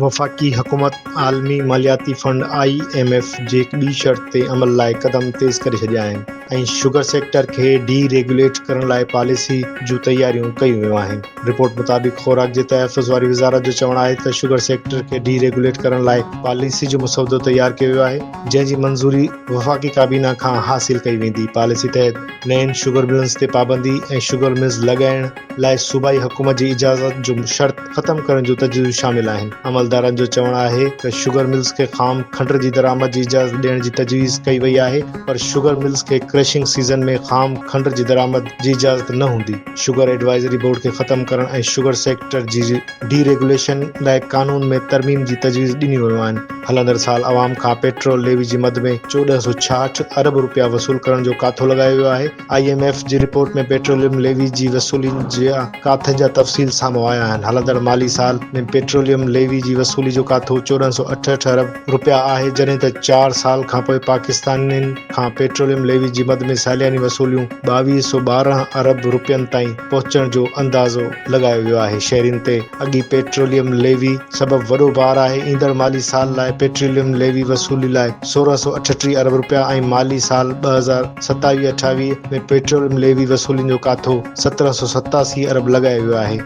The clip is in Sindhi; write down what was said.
وفاقي حڪومت عالمي مالياتي فنڊ، آء ايم ايف، جي ٻي شرط تي عمل لاء قدم تيز ڪري ڇڏيا آهن ۽ شگر سيڪٽر کي ڊي ريگيوليٽ ڪرڻ لاء پاليسي جون تياريون ڪيون ويون آهن. رپورٽ مطابق خوراڪ جي تحفظ واري وزارت جو چوڻ آهي ته شگر سيڪٽر کي ڊي ريگيوليٽ ڪرڻ لاء پاليسي جو مسودو تيار ڪيو ويو آهي جنهن جي منظوري وفاقي ڪابينا کان حاصل ڪئي ويندي پاليسي تحت نين شگر ملنز تي پابندي ۽ شگر ملز لڳائڻ لاء صوبائي حڪومت جي اجازت جو شرط ختم ڪرڻ جون تجويزون شامل آهن عملدارن جو چوڻ آهي ته شگر ملز کي خام کنڊ جي درآمد جي اجازت ڏيڻ جي تجويز ڪئي وئي آهي پر شگر ملز کي ڪرشنگ سيزن ۾ خام کنڊ جي درآمد جي اجازت نه هوندي شگر ايڊوائزري بورڊ کي ختم ڪرڻ ۽ شگر سيڪٽر جي ڊي ريگوليشن لاء قانون ۾ ترميم جي تجويز ڏنيون ويون آهن هلندڙ سال عوام کان پيٽرول ليوي جي مد ۾ چوڏهن سؤ ڇاهٺ ارب رپيا وصول ڪرڻ جو ڪاٿو لڳايو ويو آهي، آء ايم ايف جي رپورٽ ۾ پيٽروليم ليوي جي وصولي جا ڪاٿن جا تفصيل سامهون آيا آهن، هلندڙ مالي سال ۾ پيٽروليم ليوي جي وصولي جو ڪاٿو چوڏهن سؤ اٺهٺ ارب رپيا آهي، جڏهن ته چار سال کانپوء پاڪستانين کان پيٽروليم ليوي جي مد ۾ سالياني وصوليون ٻاويهه سؤ ٻارهن ارب رپين تائين پهچڻ جو اندازو لڳايو ويو آهي، شهرين تي اڳي پيٽروليم ليوي سبب وڏو بار آهي، ايندڙ مالي سال لاء پيٽروليم ليوي وصولي لاء سورهن سؤ اٺٽيهه ارب رپيا ۽ مالي سال ٻه هزار ستاويهه اٺاويهه ۾ پيٽروليم ليوي وصولين جو ڪاٿو سترهن سؤ ستاسي ارب لڳايو ويو آهي.